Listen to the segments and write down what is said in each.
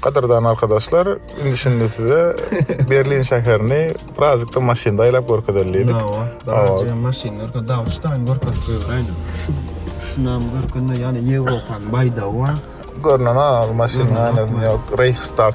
Gadyrdan arkadaşlar, indi şimdi size Berlin şäherini birazcykda maşynda aýlap görkezelim diýdik. Hawa, birazcık hem maşynda görkezip, dagy şu taýyn görkezip goýaýyn. Şu şunam görkezende ýaly Ýewropanyň baýdagy bar. Görnen al maşynyň aýnasyny ýok, Reichstag.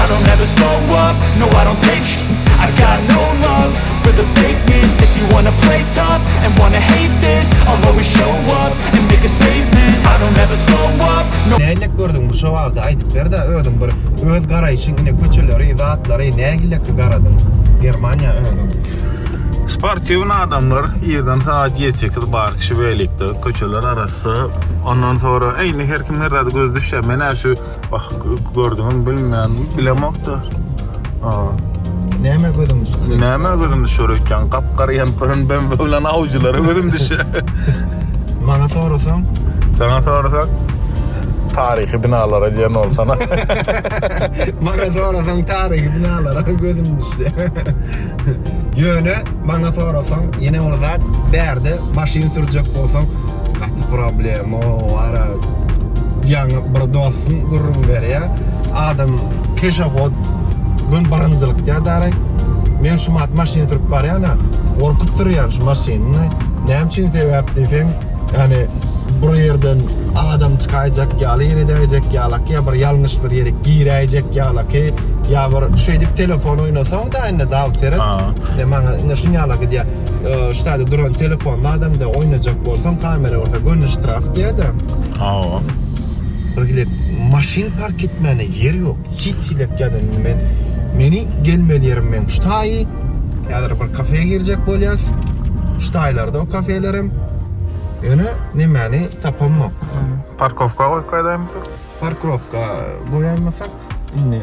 I don't ever slow up, no I don't take sh I got no love for the fakeness If you wanna play tough and wanna hate this I'll always show up and make a statement I don't ever slow up, no Nähilek gördüň bu şowarda aýdyp berdä özüň bir öz garaýşyň ine köçeleri zatlary nähilek garadyň Germaniýa özüň. Sportiwny adamlar irden sagat ýedi sekiz bar kişi weliktde köçeler arassa ondan sonra eýni her kim her zada gözi düşýär menä şu Bak gördüňiz bilmän bilemokda. Näme gözüm düşdi? Näme gözüm düşür öýtýän? Gap-gara ýempirin ben bilen awjylara gözüm düşe. Maňa sorasaň? Saňa sorasak? Taryhy binalara diýen bolsana. Maňa sorasaň taryhy binalara gözüm düşdi. Ýöne maňa sorasaň, ýene bir zat, bärde maşyn sürjek bolsaň, gaty problema, wara, ýaňy bir dostum gürrüň berýär, adam peşahod gün birinjilikde daýy, men şumat maşyn sürüp barýan-a, gorkup sürýän şu maşynyny, näme üçin sebäp diýseň, ýani bir ýerden adam çykaýjak ýaly ýer edäýjek ýalaky, ýa bir ýalňyş bir ýere giräýjek ýalaky, ýa bir şeýdip telefon oýnasaň, Ýatda indi Dawut seret. Ýa maňa indi şuny ýala gidýä. Şu taýda duran telefonly adamda oýnajak bolsaň, kamera bolsa göni ştraf diýýä-de. Hawa. Bir gidip maşyn park etmäne ýer ýok. Hiç elek ýa-da indi men meni gelmeli ýerim meň şu taýy. Häzir bir kafe girjek bolýas. Şu taýlarda o kafeler hem. Ýöne nemäni tapamok. Parkowka goýup gaýdaýmyka? Parkrowka goýaýmasak indi.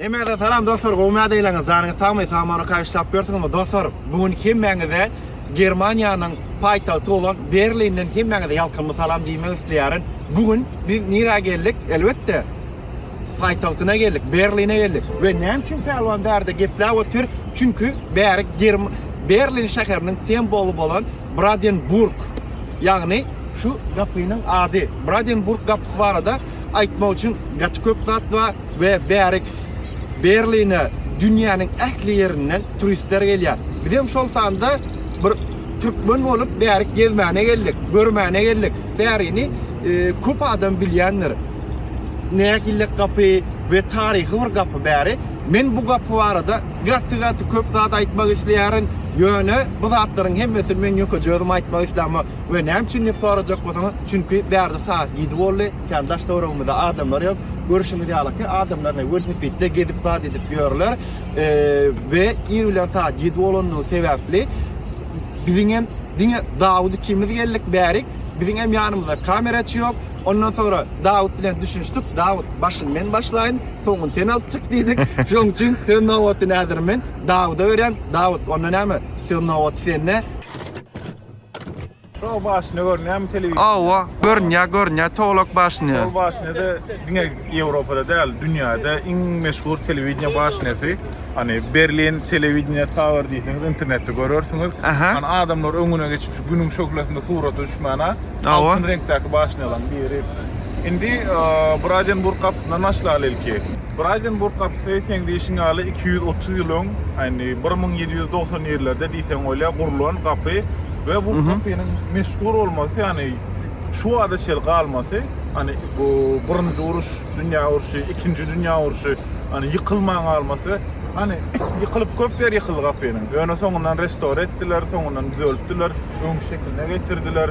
Hemmäňize salam dostlar gowy nädä eýläňiz janyňyz sagmy sag many kaýyş sap ýörsüňizmi dostlar bu gün hemmäňize Germaniýanyň paýtagty bolan Berlinden hemmäňize ýalkymly salam diýmek isleýärin bu gün biz nirä geldik elbetde paýtagtyna geldik Berline geldik we näme üçin Pälwan bärde gepläp otyr çünki bäri Berlin şäheriniň semboly bolan Bradenburg ýagny şu gapynyň ady Bradenburg gapysy barada aýtmak üçin gaty köp zat bar we bärik Berline dünýäniň ähli ýerinden turistler gelýär. Biz hem şol sanda bir türkmen bolup bärik gezmäne geldik, görmäne geldik. Bärini e, köp adam bilýändir. Nähillik gapy we taryhy bir gapy bäri. Men bu gapy barada gaty gaty köp zat aýtmak isleýärin. Ýöne bu zatlaryň hemmesini men ýökeje özüm aýtmak islämok. We näme üçin diýip sorajak bolsaňyz, çünki bärde sagat ýedi boldy, kän daş-töweregimizde adamlar ýok. Görşüňiz ýaly ki, adamlar ine welosipedde gezip zat edip ýörler. We ir bilen sagat ýedi bolandygy sebäpli biziň hem diňe Dawut ikimiz geldik bärik. Biziň hem ýanymyzda kameraçy ýok. Ondan soňra Dawut bilen düşünişdik. Dawut, başyny men başlaýyn, soňuny sen alyp çyk diýdik. Şonuň üçin söz nobatyny häzir men Dawuda berýän. Dawut, onda näme? Söz nobaty sende. Tog başyny görünýämi telewizor? Awa, görünýär, görünýär tolak başyny. Tog başyny-da diňe Ýewropada däl, dünýäde iň meşhur telewideniýe başyny. Hani Berlin telewideniýe tower diýseňiz internetde görersiňiz. Hani adamlar öňüne geçip şu günüň şöhlesinde surata düşmäne altyn reňkdäki başynylaryň biri. Indi Bradenburg gapysyndan başlaly ilki. Braýdenburg gapysy seň diýşiň ýaly iki ýüz otuz ýyl öň, indi bir müň ýedi ýüz dogsan ýerlerde diýseň bolýar, gurlan gapy we bu gapynyň meşhur bolmasy, ýagny şu bada çenli galmasy, ýagny bu Birinji uruş, dünýä urşy, ikinji dünýä urşy, ýagny ýykylman galmasy, ýagny ýykylyp köp ýeri ýykyldy gapynyň. Ýöne soňundan restore etdiler, soňundan düzeltdiler, öňki şekiline getirdiler.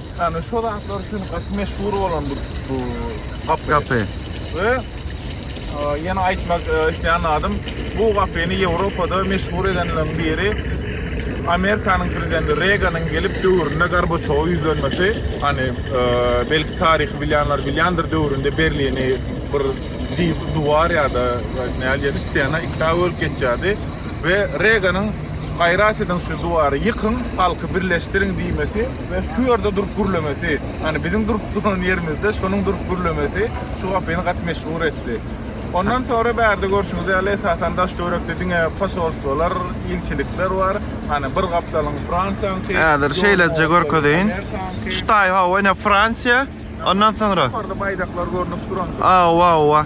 Ýani şo zatlar üçin gaty meşhur bolan bu bu gapy. Gapy. We ýene aýtmak isleýän adam bu gapyny Ýewropada meşhur edenleriň biri Amerikanyň prezidenti Reaganyň gelip döwründe Gorbaçowa ýüzlenmesi, hani belki taryhy bilýänler bilýändir döwründe Berlini bir diýip duwar ýa-da näli ýa stena ikä bölüp geçýärdi we Reaganyň gaýrat ediň şu duwary ýykyň, halky birleşdiriň diýmesi Men şu ýerde durup gürlemesi, ýani biziň durup duran ýerimizde şonuň durup gürlemesi şu wagt meni gaty meşhur etdi. Ondan sonra bärde görşüňiz ýaly esasan daş töwerekde diňe posolstwolar, ilçilikler bar. Hani bir gapdalyň Fransiýanyňky. Häzir şeýleje görkezeýin. Şu taý hawa ine Fransiýa. Ondan soňra Ýokarda baýdaklar görnüp duran. Awa, awa.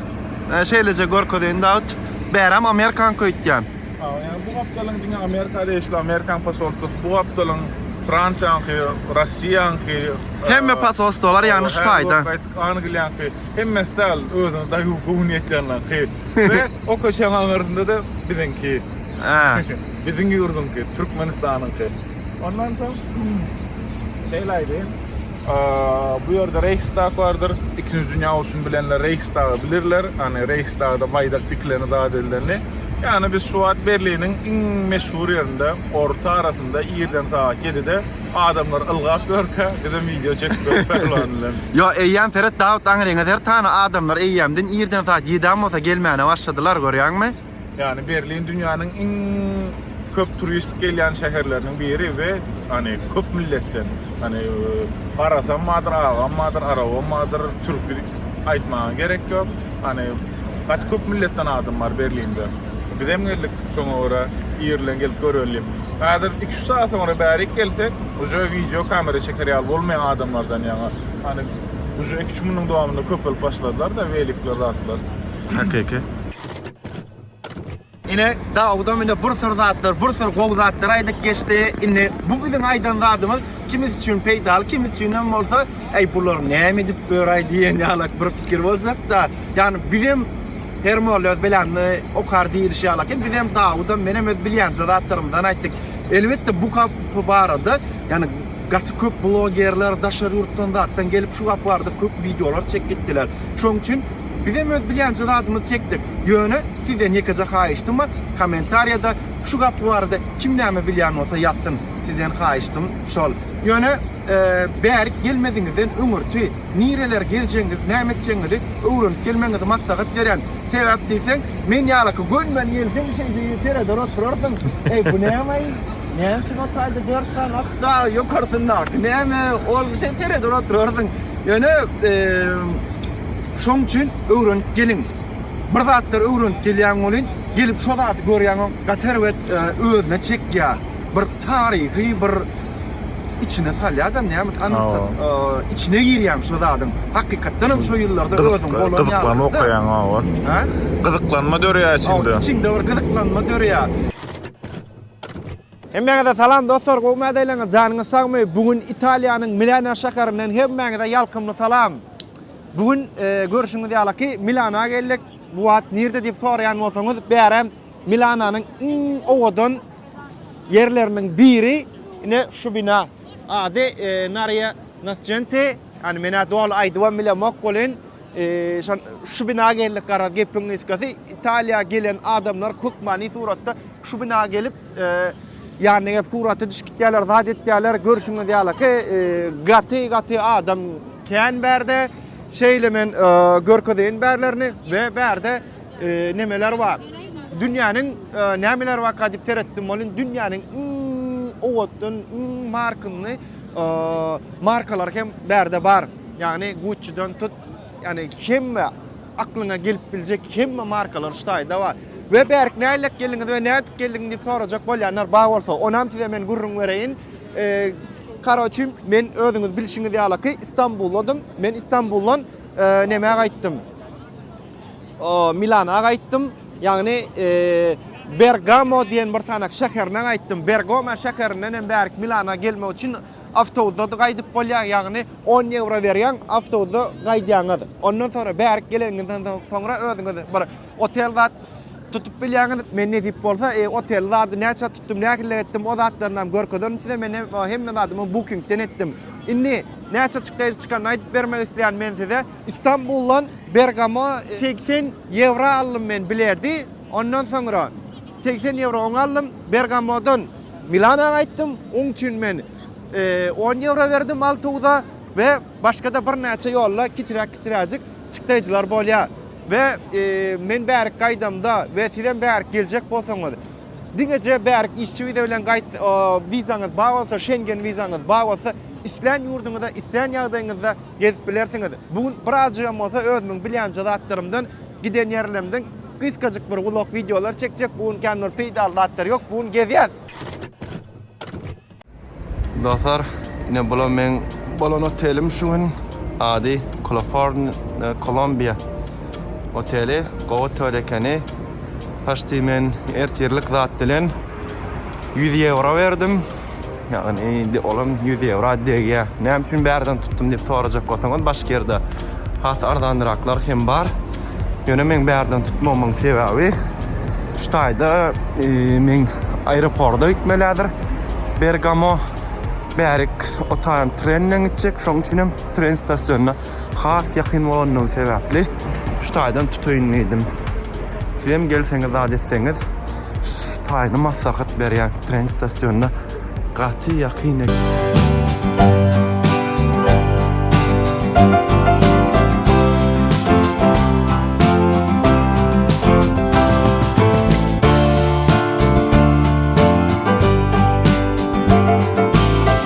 E, Şeýleje görkezeýin Dawut. Bäram Amerikan köýtýän. Awa, ýa bu gapdalyň diňe Amerika degişli, Amerikan posolstwasy, bu gapdalyň Fransiýanyňky, Russiýanyňky. e, Hemme posolstwalar ýagny şu taýda. Angliýanyňky, hemmesi däl, özüne daýy göwün ýetýänleriňki. We o köçäň aňyrsynda da biziňki. Ä. Biziň ýurduňky, Türkmenistanyňky. Ondan soň şeýle aýdaýyn. Bu ýerde Reýhstag bardyr. Ikinji dünýä urşuny bilenler Reýhstagy bilirler. Ýani Reýhstagda baýdak dikileni zat edileni. Ýani biz şu wagt Berliniň iň meşhur ýerinde, orta arasynda irden sagat ýedide adamlar ylgap ýörkä, bizem wideo çekip ýörüs Pälwan bilen. Ýo, eýýäm seret Dawut aňryňa zertany adamlar eýýämden irden sagat ýedem bolsa gelmäne başladylar görýäňmi? Ýagny Berlin dünýäniň iň köp turist gelýän şäherleriniň biri we hani köp milletden hani garasam bardyr, agam bardyr, arabam bardyr, türki aýtmaga gerek ýok. Hani gaty köp milletden adam bar Berlinde. Bizem geldik şoňa görä ir bilen gelip göreli diýip. Häzir 2-3 saat soňra bärik gelsek, uje wideo kamera çeker ýaly bolmaýan adamlardan ýaňa. Hani uje 2-3 günüň dowamynda köpelip başladylar-da welikler zatlar. Hakyky. Ine Dawudam indi bir sürü zatlar, bir sürü gowy zatlar aýdyp geçdi. Indi bu biziň aýdan zadymyz kimis üçin peýdaly, kimis üçin hem bolsa, eý bular näme edip öraý diýen ýalak bir pikir boljak-da. Ýagny bizem her molla öz beläni okar diýilişi ýaly eken. Bizem Dawudam menem öz bilýänçe zatlarymyzdan aýtdyk. Elbetde bu gap barada, ýagny gaty köp blogerler daşary ýurtdan zatdan gelip şu gap barada köp wideolar çekip gitdiler. Şonuň üçin Bizem öz bilýänçe zadymyzy çekdik. Ýöne sizden ýekeje haýyştym bar, kommentariýada şu gapy barada kim näme bilýän bolsa ýazsyn. Sizden haýyştym şol. Ýöne bärik gelmeziňizden öňürti nireler gezjegiňizi, näme etjegiňizi öwrenip gelmegiňizi maslahat berýän. Sebäp diýseň, men ýalyky gönüme gelseň şeýdi sereder oturarsyň. Eý bu nämeý? Näme üçin o taýda dört sany at dagy ýokarsyndaky näme? Ol şeý sereder oturarsyň. Ýöne Şoň üçin öwrenip geliň. Bir zatlar öwrenip gelýäň welin, gelip şo zady görýäňoň gaty erbet özüne çekýär. Bir taryhy bir içine salýada näme anlasat içine girýäň şo zadyň. Hakykatdan hem şo ýyllarda özüň bolan ýaly. Gyzyklanma okaýaň obar. Hä? Gyzyklanma dörýär içinde. Içinde bir gyzyklanma dörýär. Hemmäňize salam dostlar gowy mädeleňiz janyňyz sagmy bu gün Italiýanyň Milano şäherinden hemmäňize ýalkymly salam bu gün görşüňiz ýaly ki Milana geldik bu wagt nirde diýip soraýan bolsaňyz bärem Milananyň iň owadan ýerleriniň biri ine şu bina ady Naria Nascenti ýani menä doly aýdybam bilemok welin Şol şu bina geldik garaz gepiň gysgasy Italiýa gelen adamlar hökmany suratda şu bina gelip ýanyna gelip surata düşüp gitýärler zat etýärler görşüňiz ýalyky gaty gaty adam kän bärde şeýle men görkezeýin bärlerini we bärde nemeler bar dünýäniň nämeler barka diýip seretdim welin dünýäniň iň owatdan iň markynly markalar hem bärde bar. Ýagny Gucci-den tut, ýagny hemme aklyňa gelip biljek hemme markalar şu taýda bar. We bärik nälik geldiňiz we nädip geldiň diýip sorajak bolýanlar bar bolsa, onam size men gürrüň bereýin. Karoçim, men özüňiz bilşiňiz ýalyky Istanbuldym. Men Istanbuldan näme gaýtdym? Milana gaýtdym. Ýagny Bergamo diýen bir sanak şäherine gaýtdym. Bergamo şäherinden hem bärik Milana gelmek üçin awtobusda-da gaýdyp bolýar. Ýagny on ýewro berýäň, awtobusda gaýdýaňyz. Ondan soňra bärik geleniňizden soňra özüňiz bir otel zat tutup bilýäňiz. Men nesip bolsa otel zady näçä tutdum, nähili etdim o zatlarynam görkezerin size. Men hemme zadymy Booking-den etdim. Indi näçe çykdajy çykanyny aýdyp bermek isleýän men size. Istanbuldan Bergamo segsen ýewro aldym men biledi, ondan soňra segsen ýewro oňa aldym, Bergamodan Milana gaýtdym, oň üçin men on ýewro berdim awtobusa we başga-da birnäçe ýolda kiçiräk-kiçiräjik çykdaýjylar bolýar we men bärik gaýdamda we sizem bärik geljek bolsaňyz, diňeje bärik işçi wiza bilen gaýt, wizaňyz bar bolsa, Şengen wizaňyz bar bolsa, islän ýurduňyza, islän ýagdaýyňyzda Gezip bilersiňiz. Bu gün birazjygam bolsa özümiň bilýänje zatlarymdan, giden ýerlerimden gysgajyk bir vlog wideolar çekjek. Bu gün kän bir peýdaly zatlar ýok. Bu gün gezýäs. Dostlar, ine bula meň bolan otelim şu gün. Ady Coloforn Columbia oteli. Gowy otel ekeni. Paşti men ertirlik zat bilen 100 ýewro berdim. Ýagny indi olam 100 ýewro degýär. Näme üçin bärden tutdum diýip sorajak bolsaňyz, başga ýerde has arzanraklar hem bar. Ýöne men bärden tutmamyň sebäbi şu taýda e, men aeroporta gitmelidir. Bergamo bärik o taýdan trenden gitjek. Şoň üçin hem tren stasionyna has ýakyn bolandygy sebäpli şu taýdan tutaýyn diýdim. Sizem gelseňiz zat etseňiz şu taýyny maslahat berýän tren stasionyna gaty ýakyn ekeni.